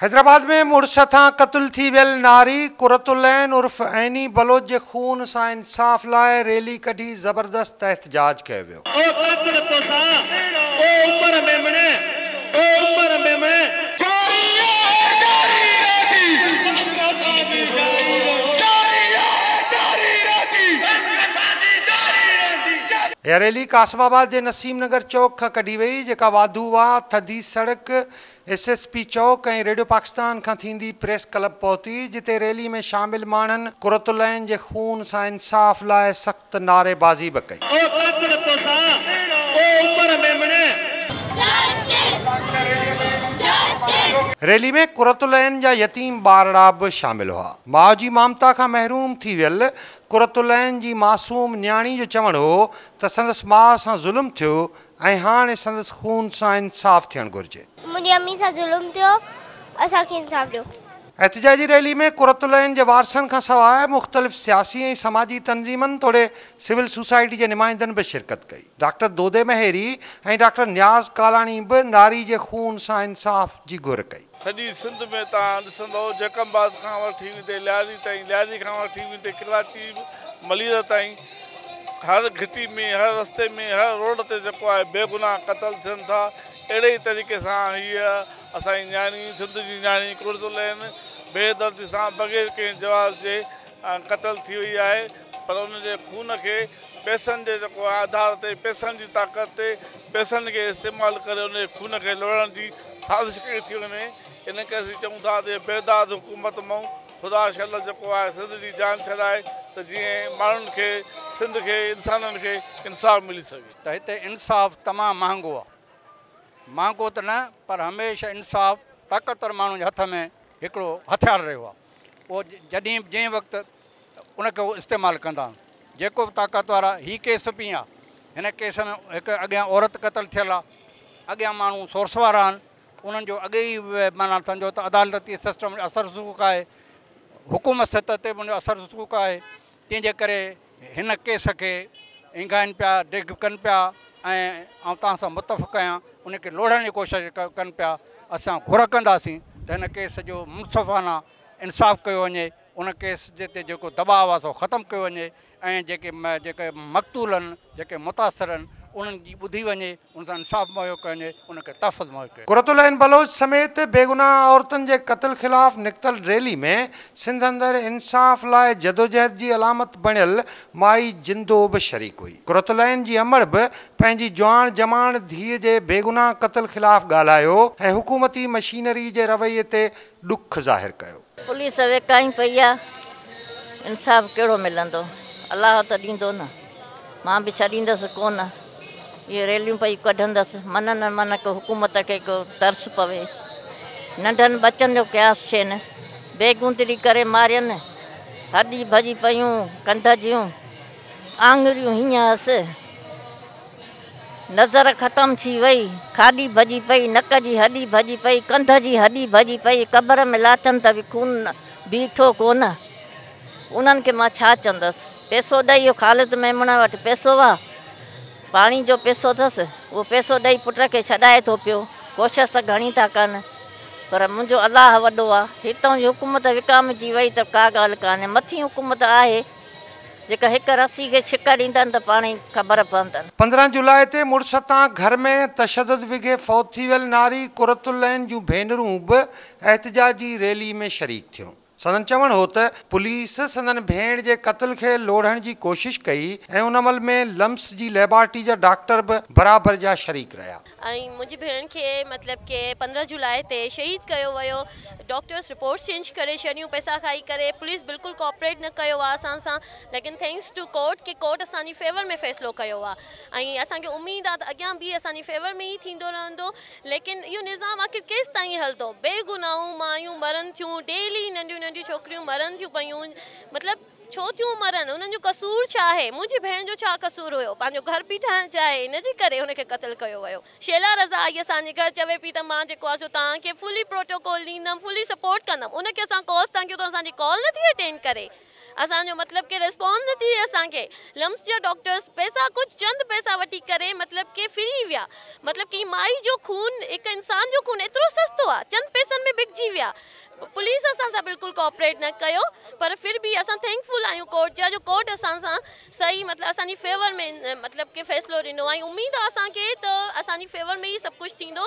حيدرآباد ۾ مڙس هٿان قتل ٿي ويل ناري قرت العين عرف عيني بلوچ جي خون سان انصاف لاء ريلي ڪڍي زبردست احتجاج ڪيو ويو. او ڪاڪڙ توسان او عمر ميمڻي او عمر ميمڻي. جاري آهي جاري رهندي بس اسان جي جاري رهندي جاري آهي جاري رهندي بس اسان جي جاري رهندي. اها ريلي قاسم آباد جي نسيم نگر چوڪ کان ڪڍي وئي، جيڪا واڌو واهه، ٿڌي سڙڪ، ايس ايس پي چوڪ ۽ ريڊيو پاڪستان کان ٿيندي پريس ڪلب پهتي، جتي ريلي ۾ شامل ماڻهن قرت العين جي خون سان انصاف لاء سخت نعري بازي به ڪئي. او ڪاڪڙ توسان، او عمر ميمڻي. ريلي ۾ قرت العين جا يتيم ٻارڙا به شامل هئا. ماء جي مامتا کان محروم ٿي ويل قرة العين جي معصوم نياڻي جو چوڻ هو ته سندس ماء سان ظلم ٿيو ۽ هاڻي سندس خون سان انصاف ٿيڻ گهرجي. منهنجي امي سان ظلم ٿيو اسان کي انصاف ڏيو. احتجاجي ريلي ۾ قرة العين جي وارثن کان سواء مختلف سياسي ۽ سماجي تنظيمن توڙي سول سوسائٽي جي نمائندن به شرڪت ڪئي. ڊاڪٽر دودي مهيري ۽ ڊاڪٽر نياز ڪالاڻي به ناري جي خون سان انصاف جي گهر ڪئي. سڄي سنڌ ۾ توهان ڏسندؤ جيڪب آباد کان وٺي ويندي لياري تائين، لياري کان وٺي ويندي ڪراچي ملير تائين هر گهٽي ۾ هر رستي ۾ هر روڊ تي جيڪو آهي بي گناهه قتل ٿين ٿا اهڙي ئي طريقي سان هيء اسان جي نياڻي سنڌ جي نياڻي قرت العين بي دردي سان بغير ڪنهن جواز جي قتل ٿي وئي آهي پر ان جي خون کي پئسن جي جيڪو آڌار تي پئسن جي طاقت تي پئسن کي استعمال ڪري ان جي خون کي لڙڻ جي سازش ڪئي ٿي وڃي ان ڪري اسين چئون ٿا ته بيداد حڪومت مئون خدا شل جيڪو آهي سنڌ جي جان ڇڏائي ته جئين ماڻهن کي سنڌ کي انسانن کي انصاف ملي سگهي. ته هتي انصاف تمام مهانگو آهي مهانگو ته نه پر هميشه انصاف طاقتور ماڻهن جي هٿ ۾ هڪڙو هٿيار رهيو آهي پوء جڏهن به جنهن وقت ان کي هو استعمال ڪندا جيڪو به طاقتور آ هي ڪيس پي آ هن ڪيس ۾ هڪ اڳيان عورت قتل ٿيل آ اڳيان ماڻهو سورس وارا آهن انهن جو اڳي ئي معنيٰ سمجهو ته عدالتي سسٽم اثر رسوخ آهي حڪومت سطح تي به ان جو اثر رسوخ آهي تنهن جي ڪري هن ڪيس کي اينگهائن پيا، ڊگهه ڪن پيا ۽ آئون توهان سان متفق آهيان، ان کي لوڙهڻ جي ڪوشش ڪن پيا، اسان گهر ڪنداسين ته هن ڪيس جو منصفانه انصاف ڪيو وڃي، ان ڪيس جي تي جيڪو دٻاء آهي سو ختم ڪيو وڃي ۽ جيڪي جيڪي مقتولن جيڪي متاثرن انهن جي ٻڌي وڃي. ان سان انصاف مهيو ڪيو وڃي، ان کي تحفظ مهيو ڪيو وڃي. قرة العين بلوچ سميت بيگناهه عورتن جي قتل خلاف نڪتل ريلي ۾ سنڌ اندر انصاف لاء جدوجهد جي علامت بڻيل مائي جندو به شريڪ هئي. قرة العين جي امڙ به پنهنجي جواڻ جماڻ ڌيء جي بيگناهه قتل خلاف ڳالهايو ۽ حڪومتي مشينري جي رويي تي ڏک ظاهر ڪيو. پوليس ويڪائين پئي آ انصاف ڪهڙو ملندو الله ته ڏيندو نه مان به ڇڏيندس ڪونه اهي ريليون پئي ڪڍندس من نه من ڪو حڪومت کي ڪو ترس پوي ننڍن ٻچن جو قياس ڇين بيگوندري ڪري مارين هڏي ڀڄي پيون ڪنڌ جون آڱريون هينئن هس. نظر ختم ٿي وئي، کاڏي ڀڄي پئي، نڪ جي هڏي ڀڄي پئي، ڪنڌ جي هڏي ڀڄي پئي، قبر ۾ لاٿم ته به خون بيٺو ڪونه، انهن کي مان ڇا چوندس؟ پئسو ڏئي اهو خالد ميمڻ وٽ پئسو آ، پاڻي جو پئسو اٿس، اهو پئسو ڏئي پٽ کي ڇڏائي ٿو پيو، ڪوشش ته گهڻي ٿا ڪن، پر منهنجو الله وڏو آ، هتئون جي حڪومت وڪامجي وئي ته ڪا ڳالهه ڪانهي، مٿين حڪومت آهي. جيڪا هڪ رسي کي ڇڪ ڏيندن ته پاڻهي خبر پوندن. پندرهن جولاء تي مڙس تان گهر ۾ تشدد وگهي فوت ٿي ويل ناري قرت العين جون ڀينرون به احتجاجي ريلي ۾ شريڪ ٿيون. سندن چوڻ هو ته پوليس سندن ڀيڻ جي قتل کي لوڙهڻ جي ڪوشش ڪئي ۽ ان عمل ۾ لمس جي ليبارٽري جا ڊاڪٽر به برابر جا شريڪ رهيا. ۽ منهنجي ڀيڻ کي مطلب ڪي پندرهن جولاء تي شهيد ڪيو ويو ڊاڪٽرس رپورٽس چينج ڪري ڇڏيون پئسا کائي ڪري پوليس بلڪل ڪوپريٽ نه ڪيو آ اسان سان ليڪن ٿينڪس ٽو ڪورٽ ڪي ڪورٽ اسان جي فيور ۾ فيصلو ڪيو آ ۽ اسان کي اميد آ ته اڳيان به اسان جي فيور ۾ ئي ٿيندو رهندو ليڪن اهو نظام آخر ڪيستائين هلندو بي گناهون مايون مرن ٿيون ڊيلي ننڍيون ننڍيون ڇوڪريون مرن ٿيون پيون مطلب ڇو ٿيون مرن؟ انهن جو قصور ڇا آهي؟ منهنجي ڀيڻ جو ڇا قصور هيو؟ پنهنجو گهر پئي ٺاهڻ چاهي، ان جي ڪري هن کي قتل ڪيو ويو. شيلا رضا آئي اسان جي گهر، چوي پئي ته مان جيڪو آ سو توهان کي فلي پروٽوڪول ڏيندم، فلي سپورٽ ڪندم. ان کي اسان ڪوس ٿا ڪيون ته اسان جي ڪال نٿي اٽينڊ ڪري، اسان جو مطلب ڪي ريسپانس نٿي ڏئي اسان کي. لمس جا ڊاڪٽرز پئسا ڪجهه چند پئسا وٺي ڪري مطلب ڪي ڦري ويا. مطلب ڪنهن مائي جو خون، هڪ انسان جو خون ايترو سستو آ، چند پئسن ۾ بڪجي ويا. پوليس اسان سان بلڪل ڪوآپريٽ نه ڪيو پر ڦر به اسان ٿينڪ فل آهيون ڪورٽ جا جو ڪورٽ اسان سان صحيح مطلب اسان جي فيور ۾ مطلب ڪي فيصلو ڏنو ۽ اميد آهي اسان کي ته اسان جي فيور ۾ ئي سڀ ڪجهه ٿيندو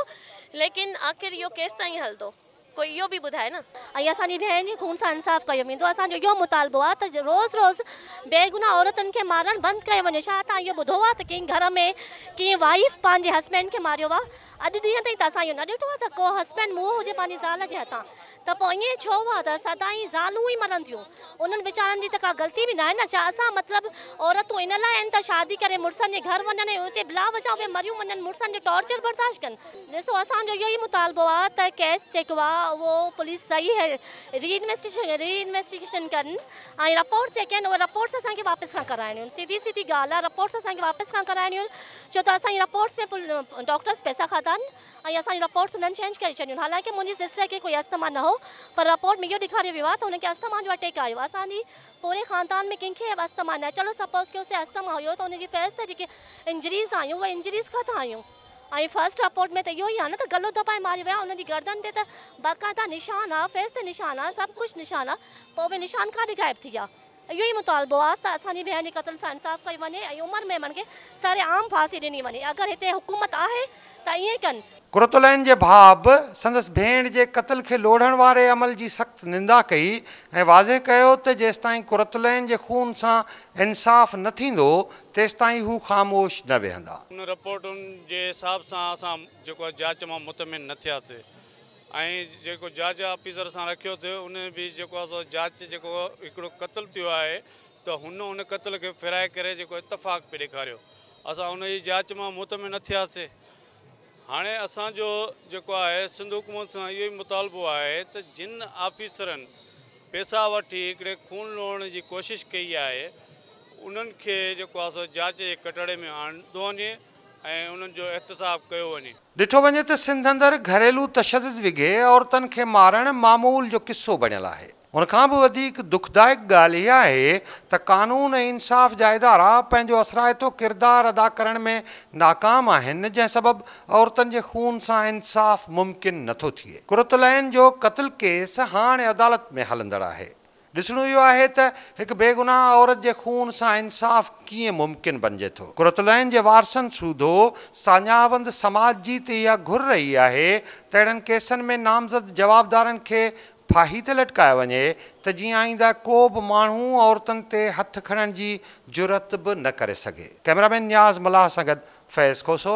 ليڪن آخر اهو ڪيستائين هلندو ڪوئي اهو به ٻڌائي نه. ۽ اسان جي ڀيڻ جي خون سان انصاف ڪيو ويندو اسان جو اهو مطالبو آهي ته روز روز بيگناهه عورتن کي مارڻ بند ڪيو وڃي ڇا توهان اهو ٻڌو آهي ته ڪنهن گهر ۾ ڪنهن وائيف پنهنجي هسبينڊ کي ماريو آهي اڄ ڏينهن تائين ته اسان اهو نه ڏٺو آهي ته ڪو هسبينڊ موهه هجي پنهنجي زال جي هٿان ته پوء ائين ڇو آهي ته سدائين زالون ئي مرن ٿيون انهن ويچارن جي ته ڪا غلطي به ناهي نه ڇا اسان مطلب عورتون ان لاء آهن ته شادي ڪري مڙسن جي گهر وڃن ۽ اتي بلا وجهه اهي مريون وڃن مڙسن جو ٽارچر برداشت ڪن ڏسو اسان جو اهو ئي مطالبو آهي ته ڪيس جيڪو آهي اهو پوليس صحيح ري انويسٽيگيشن ڪن ۽ رپورٽس جيڪي آهن اهي رپورٽس اسان کي واپس کان ڪرائڻيون آهن سڌي سڌي ڳالهه آهي رپورٽس اسان کي واپس کان ڪرائڻيون آهن. ڇو ته اسان جي رپورٽس ۾ پڻ ڊاڪٽرس پئسا کاڌا آهن ۽ اسان جون رپورٽس انهن چينج ڪري ڇڏيون حالانڪه منهنجي سسٽر کي ڪوئي اسٿما نه هو پر رپورٽ ۾ اهو ڏيکاريو ويو آهي ته هن کي اسٿما جو اٽيڪ آيو اسان جي پوري خاندان ۾ ڪنهن کي به اسٿما نه آهي چلو سپوز ڪيون سي اسٿما هيو ته ان جي فيس تي جيڪي انجريز آيون اهي انجريز ڪٿان آيون ۽ فرسٽ رپورٽ ۾ ته اهو ئي آهي نه ته گلو دٻائي ماريو ويو آهي ان جي گردن تي ته باقاعده نشان آهي فيس تي نشان آهي سڀ ڪجهه نشان آهي پوء اهي نشان ڪاڏي غائب ٿي ويا اهو ئي مطالبو آهي ته اسان جي ڀيڻ جي قتل سان انصاف ڪيو وڃي ۽ عمر ميمڻ کي سري عام ڦاسي ڏني وڃي اگر هتي حڪومت آهي ته ائين ڪن. قرة العين جي ڀاء به سندس ڀيڻ جي قتل کي لوڙهڻ واري عمل جي سخت نندا ڪئي ۽ واضح ڪيو ته جيستائين قرة العين جي خون سان انصاف نه ٿيندو تيستائين هو خاموش نه ويهندا. ان رپورٽن جي حساب سان اسان جيڪو آهي جاچ مان مطمئن نه ٿياسي ۽ جيڪو جاچ آفيسر سان رکيو ٿيو ان به جيڪو آهي سو جاچ جيڪو هڪڙو قتل ٿيو آهي ته هن ان قتل کي ڦيرائي ڪري جيڪو اتفاق پي ڏيکاريو اسان ان جي جاچ مان مطمئن نه ٿياسي هاڻي اسان جو جيڪو آهي سنڌ حڪومت سان اهو ئي مطالبو آهي ته جن آفيسرن پيسا وٺي هڪڙي خون لوڙڻ جي ڪوشش ڪئي آهي انهن کي جيڪو آهي سو جاچ جي ڪٽهڙي ۾ آندو وڃي ۽ انهن جو احتساب ڪيو وڃي. ڏٺو وڃي ته سنڌ اندر گهريلو تشدد وگهي عورتن کي مارڻ معمول جو قصو بڻيل آهي. ان کان به وڌيڪ دکدائڪ ڳالهه اها آهي ته قانون ۽ انصاف جا ادارا پنهنجو اثرائتو ڪردار ادا ڪرڻ ۾ ناڪام آهن جنهن سبب عورتن جي خون سان انصاف ممڪن نٿو ٿئي. قرة العين جو قتل ڪيس هاڻ عدالت ۾ هلندڙ آهي. ڏسڻو اهو آهي ته هڪ بيگناهه عورت جي خون سان انصاف ڪيئن ممڪن بنجي ٿو. قرة العين جي وارثن سوڌو ساڃاهوند سماج جي ته اها گهر رهي آهي ته اهڙن ڪيسن ۾ نامزد جوابدارن کي ڦاهي تي لٽڪايو وڃي ته جيئن آئينده ڪو به ماڻهو عورتن تي هٿ کڻڻ جي جرئت به نه ڪري سگهي. ڪئميرامين نياز ملاح سان گڏ فيض کوسو،